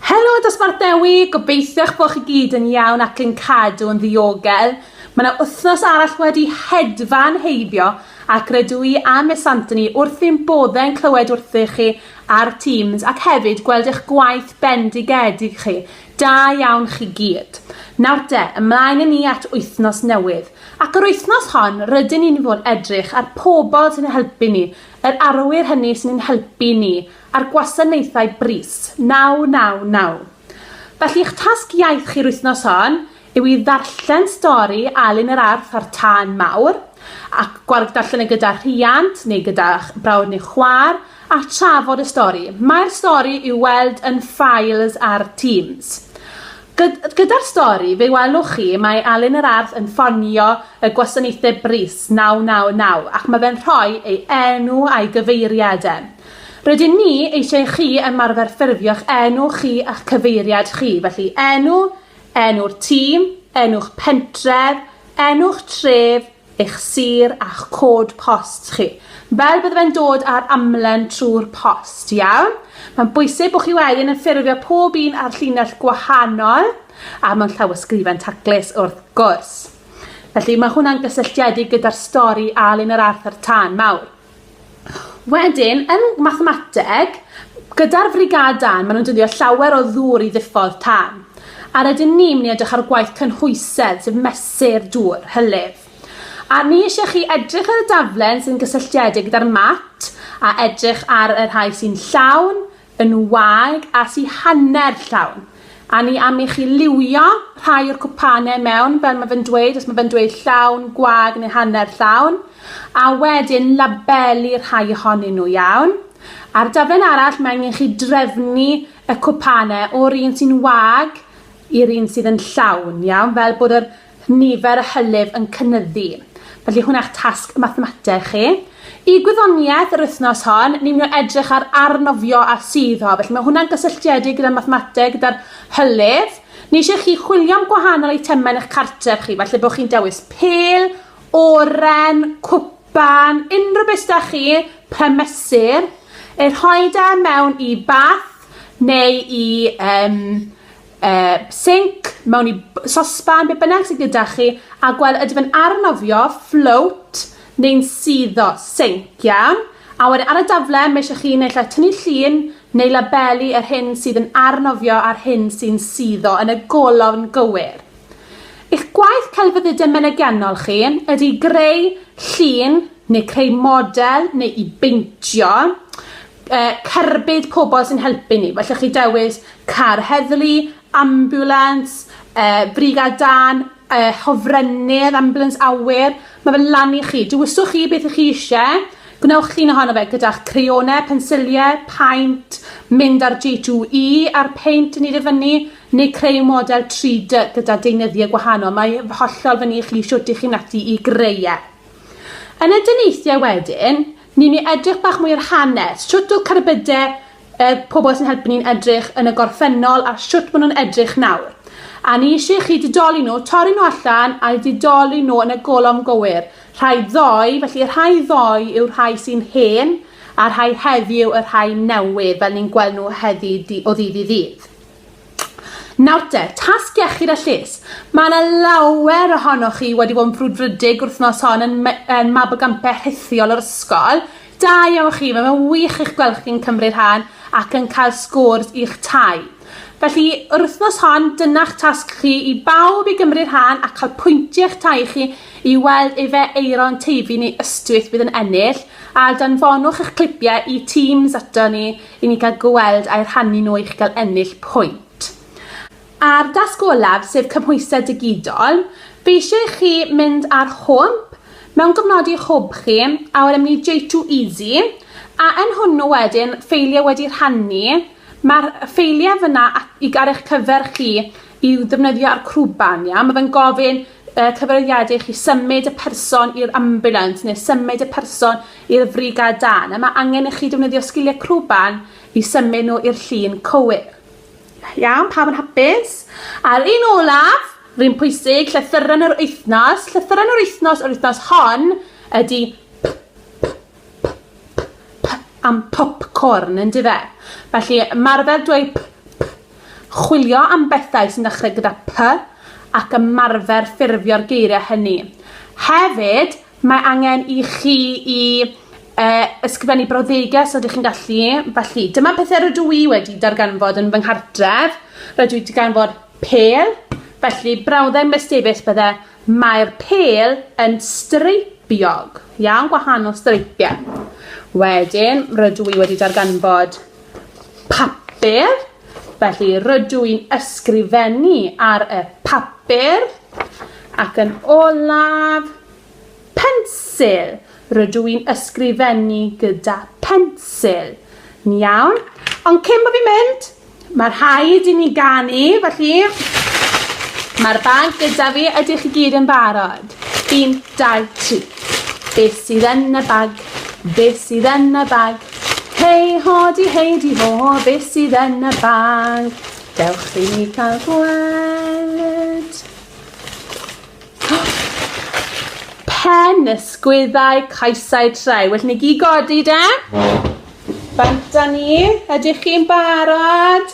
Helo Dosbarth Dewi, gobeithiwch bod chi gyd yn iawn ac yn cadw yn ddiogel. Mae yna wythnos arall wedi hedfan heibio ac rydw i a Miss Anthony wrth ein boddau'n clywed wrthych chi ar Teams ac hefyd gweld eich gwaith bendigedig chi. Da iawn chi gyd. Nawr de, ymlaen i ni at wythnos newydd. Ac yr wythnos hon, rydyn ni'n fod edrych ar pobl sy'n helpu ni, yr arwyr hynny sy'n ein helpu ni a'r gwasanaethau brys 999. Felly eich tasg iaith chi'r wythnos hon yw i ddarllen stori Alun yr Arth a'r Tân Mawr, a gwarg darllen e gyda rhiant neu gyda'ch brawd neu chwaer, a trafod y stori. Mae'r stori i'w weld yn Files ar Teams. Gyd gyda'r stori, fe welwch chi, mae Alun yr Arth yn ffonio y gwasanaethau brys 999 ac mae fe'n rhoi ei enw a'i gyfeiriad e. Rydyn ni eisiau i chi ymarfer ffurfio'ch enw chi a'ch cyfeiriad chi, felly enw, enw'r tîm, enw'ch pentref, enw'ch tref, eich sir a'ch cod post chi, fel bydde fe'n dod ar amlen trwy'r post, iawn? Mae'n bwysig bod chi wedyn yn ffurfio pob un ar llinell gwahanol a mewn llawysgrifen taclus wrth gwrs. Felly mae hwnna'n gysylltiedig gyda'r stori Alun yr Arthur Tân Mawr. Wedyn, yn mathemateg, gyda'r frigâd dân, maen nhw'n dyddio llawer o ddŵr i ddiffodd tân. A rydyn ni mynd i edrych ar gwaith cynhwysedd, sef mesur dŵr, hylif. A ni eisiau chi edrych ar y daflen sy'n gysylltiedig gyda'r mat, a edrych ar y rhai sy'n llawn, yn wag as i hanner llawn, a ni am i chi liwio rhai o'r cwpane mewn fel ma fe'n dweud, os ma fe'n dweud llawn, gwag neu hanner llawn, a wedyn labelu rhai ohonyn nhw, iawn? Ar daflen arall mae angen chi drefnu y cwpane o'r un sy'n wag i'r un sydd yn llawn, iawn? Fel bod yr nifer y hylif yn cynyddu. Felly hwna'ch tasg mathemateg chi. Y gwyddoniaeth yr wythnos hon, ni'n mynd i edrych ar arnofio a suddo. Felly mae hwnna'n gysylltiedig gyda mathemateg, gyda'r hylif. Ni eisiau chi chwilio am gwahanol eitemau yn eich cartref chi, felly bod chi'n dewis pel, oren, cwpan, unrhyw beth da chi, premesur, eu rhoi da e mewn i bath neu i um, yy sinc, mewn i b- sosban, be' bynnag sy gyda chi, a gwel ydy fe'n arnofio, float, neu'n suddo, sinc, iawn? A wedyn ar y dafle ma' isie chi naill ai tynnu llun neu labelu yr hyn sydd yn arnofio a'r hyn sy'n suddo yn y golofn gywir. I'ch gwaith celfyddyde menegiannol chi ydy greu llun neu creu model neu i beintio, yy cerbyd pobol sy'n helpu ni f'ellwch chi dewis car heddlu, ambiwlans, yy brigâd dân, yy hofrennydd ambiwlans awyr ma' fe lan i chi dewiswch chi beth 'ych chi isie gwnewch llun ohono fe gyda'ch crayone pensilie paent mynd ar Jay two ee a'r peint yn neud e fyny neu creu model tri dy gyda deunyddiau gwahanol mae hollol fyny i chi shwt 'ych chi'n methu i greu e. Yn y dyneithiau wedyn Newn ni edrych bach mwy ar hanes. Shwt o'dd cerbydau y pobl sy'n helpu ni'n edrych yn y gorffennol a shwt ma' nhw'n edrych nawr. A ni isie chi didoli nhw, torri nhw allan a'u didoli nhw yn y golofn gywir. Rhai ddoe, felly y rhai ddoe yw'r rhai sy'n hen a'r rhai heddiw y rhai newydd fel ni'n gweld nhw heddi di- o ddydd i ddydd. Nawr te, tasg iechyd a lles. Mae yna lawer ohonoch chi wedi bod yn frwdfrydig wrthnos hon yn me- yn mab o gampau rhithiol yr ysgol. Da iawn chi, mae fe'n wych eich gweld chi'n cymryd rhan ac yn cael scores i'ch tai. Felly, yr wythnos hon, dyna'ch tasg chi i bawb i gymryd rhan a cael pwyntiau eich tai chi i weld efe Aeron Teifi neu Ystwyth fydd yn ennill, a danfonwch eich clipiau i Teams ato ni i ni gael gweld ai rhannu nhw eich gael ennill pwynt. A'r dasg olaf, sef cymhwysedd digidol, fi eisiau i chi mynd ar hwmp, mewn gofnodi eich hwb chi, a wedyn mynd i J2EZ, a yn hwnnw wedyn, ffeiliau wedi rhannu, mae'r ffeiliau fyna at, i, ar eich cyfer chi i'w ddefnyddio ar Crwban, iawn? Mae fe'n gofyn y cyfrifiadur chi symud y person i'r ambulans neu symud y person i'r frigad dân a mae angen i chi defnyddio sgiliau crwban i symud nhw i'r llun cywir. Iawn, pawb yn hapus? A'r un olaf, rhywun pwysig, llythyren yr wythnos, llythyren yr wythnos yr wythnos hon ydy p, p, p, p, p am popcorn, yn dife? Felly, marfer dweud p, p, Chwilio am bethau sy'n dechrau gyda 'P' ac ymarfer ffurfio'r geiriau hynny. Hefyd, mae angen i chi i eh, ysgrifennu brawddegau os ydych chi'n gallu. Felly, dyma pethau rydw i wedi darganfod yn fy nghartref. Rydw i wedi ganfod pêl, felly brawddeg mestebus bydde mae'r pêl yn streipiog. Iawn, gwahanol streipiau. Wedyn, rydw i wedi darganfod papur, felly rydw i'n ysgrifennu ar y papur, ac yn olaf, pensil, rydw i'n ysgrifennu gyda pensil. Yn iawn? Ond cyn bod fi'n mynd, mae rhaid i ni ganu, felly mae'r bag gyda fi, ydych chi gyd yn barod? Un, dau, tri. Be sydd yn y bag? Be sydd yn y bag? Hei hodi hei di ho, be sydd yn y bag? Dewch i ni cael gweld. Pen, ysgwyddau, caesau, treu. Well ni gyd godi de? Bant â ni. Ydych chi'n barod?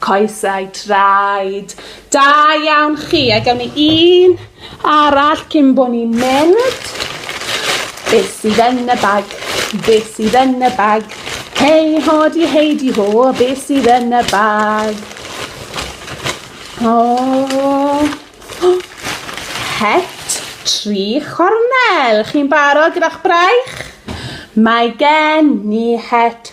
Coesau traed. Da iawn chi. A gawn ni un arall cyn bod ni'n mynd. Be sydd yn y bag? Be sydd yn y bag? Hei ho di hei di ho, be sydd yn y bag? O! Oh. Het tri chornel. Chi'n barod gyda'ch braich? Mae gen ni het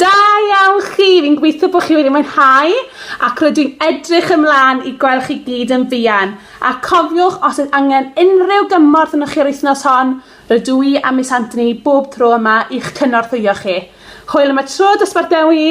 Da iawn chi! Fi'n gweithio bod chi wedi mwynhau ac rydw i'n edrych ymlaen i gweld chi gyd yn fuan. A cofiwch, os oes angen unrhyw gymorth yno chi yr wythnos hon, rydw i a Miss Anthony bob tro yma i'ch cynorthwyo chi. Hwyl am y tro, dosbarth Dewi!